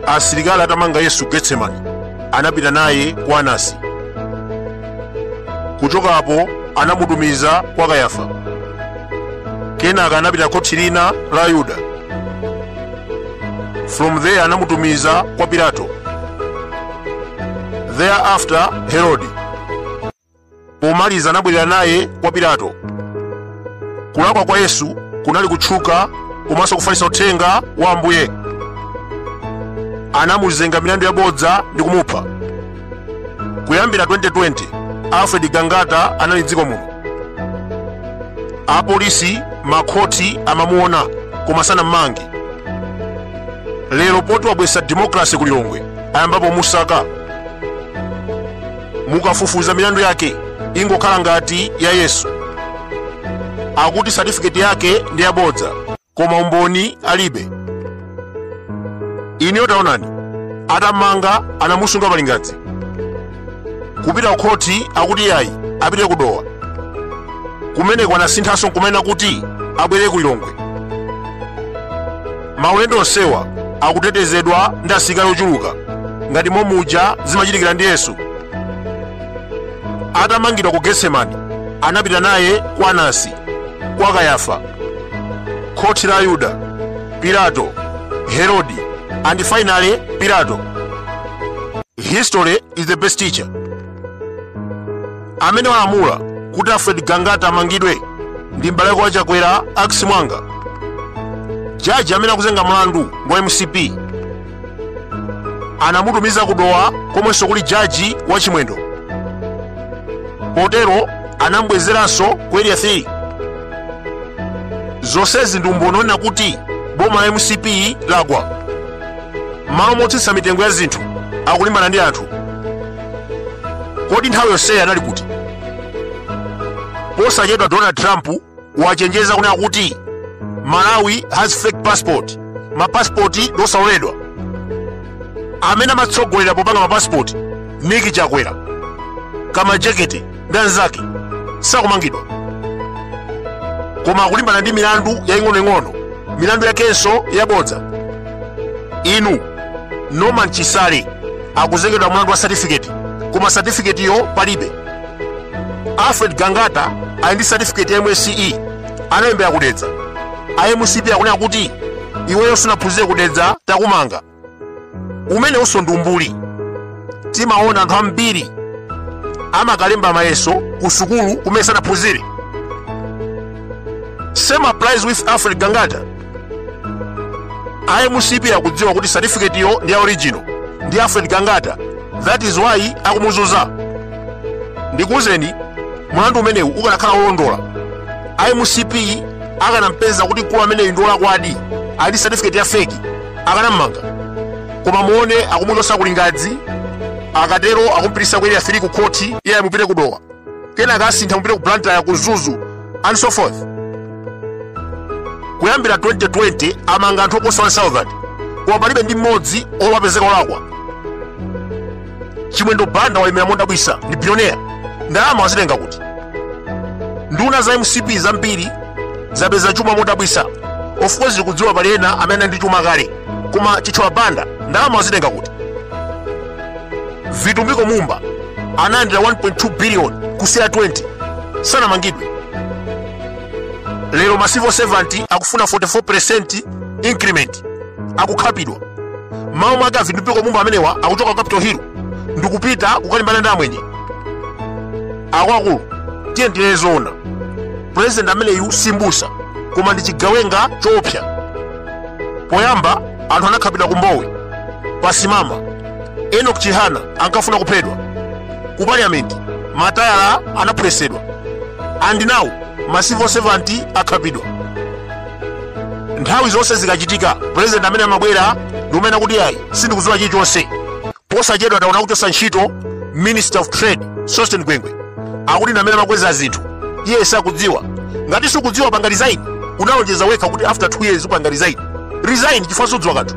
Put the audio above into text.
asilikali atamanga yesu getsemani anapita naye kwa anasi kuchoka apo anamutumiza kwa kayafa kenaka anapita khoti lina la yuda from there anamutumiza kwa pilato thereafter herodi Pomaliza anabwerera naye kwa Pilato. Kulakwa kwa Yesu kunali kutchuka komanso kufalitsa uthenga wa Ambuye. Anamuzenga milandu yabodza ndi kumupha. Kuyambira 2020, Alfred Gangata anali m'dziko muno. Apolisi, makhoti amamuona koma sanammange. Lero poti wabweretsa demokrasi ku Lilongwe, ayambapo kumusaka. mukafufuza milandu yake ingokhala ngati ya yesu akuti satifiketi yake ndi yabodza koma umboni alibe inuyo taonani atammanga anamusunga palingadzi kupita kukhoti akuti yayi apite kudowa kumeneko anasinthanso nkumanena kuti abwere ku lilongwe maulendo onsewa akutetezedwa ndi asilikali ochuluka ngati momuja zimachitikira ndi yesu atamangidwa ku getsemani anapita naye kwa anasi kwa kayafa khoti la ayuda pilato herodi and finally pilato history is the best teacher amene walamula kuti alfred gangata amangidwe ndi m'bale wake wa chakwera ex mwanga jaji amene akuzenga mlandu ndi wa mcp anamutumiza ku dowa komwenso kuli jaji wa chimwendo potero anamubwezeranso ku area 3 zonsezi ndi umboni onena kuti boma la mcp lagwa m'malo motsitsa mitengo ya zinthu akulimbana ndi anthu kodi nthawi yonseyi anali kuti posachedwa donald trump wachenjeza kunena kuti malawi has fake passports mapasipoti ndi osaloledwa amene amatsogolera popanga mapasipoti nick chakwera kamajekete ndi anzake sakumangidwa koma akulimbana ndi milandu yaying'onoying'ono milandu yakenso yabodza inu norman chisale akuzengedwa mlandu wa satifiketi koma satifiketiyo palibe alfred gangata ali ndi satifiketi ya msce analembera kudedza a mcp akunena kuti iweyo sunaphunzire kudedza takumanga umenewunso ndi umbuli timaona anthu ambiri amakalemba mayeso ku sukulu kumene sanaphunzire same applies with alfred gangata imcp akudziwa kuti certificate yo ndi ya original ndi alfred gangata that is why akumuzuza ndikuwuzeni mlandu umenewu ukanakhala wolondola imcp akanampeza kuti mkulu ameneyu ndi wolakwadi ali ndi certificate ya feki akanam'manga koma muone akumuchotsa ku lingadzi akatero akumupitisa ku area 3 ku khoti iye ayi mupite ku dowa kenaka asintha mupite ku blantyre ku mzuzu and so forth kuyambira 2020 amanga anthu oposa 1000 koma palibe ndi mmodzi yemwe wapezeka olakwa chimwendo banda walemera modabwisa ndi billionaire ndalama wazitenga kuti nduna za mcp zambiri zapeza chuma modabwisa of course tikudziwa pali ena amene anali ndi chuma kale koma chithyola banda ndalama wazitenga kuti vitumbiko mumba analandira 1.2 billion ku cr20 sanamangidwe lero ma civil servant akufuna 44% increment akukhapidwa mawu mwake a vitumbiko mumba amenewa akuchoka ku capital hill ndikupita kukalimbana ndi amwenye akwakulu tiye ndinene zoona pulezidenti ameneyu simbusa koma ndi chigawenga choopsa poyamba anthu anakhapidwa ku mbowe pasimama enok chihana ankafuna kuphedwa ku parliament matayala anaphwetsedwa and now ma civil servant akhapidwa nthawi zonse zikachitika pulezidenti amene amabwera ndi kumanena kuti ayi sindikudziwa chilichonse posachedwa taona akuchotsa ntchito minister of trade sosten gwengwe akuti ndi amene amakweza zinthu iye sakudziwa ngati sukudziwa panga resign unalonjeza wekha kuti after 2 years upanga resign resign chifukwa sukudziwa kanthu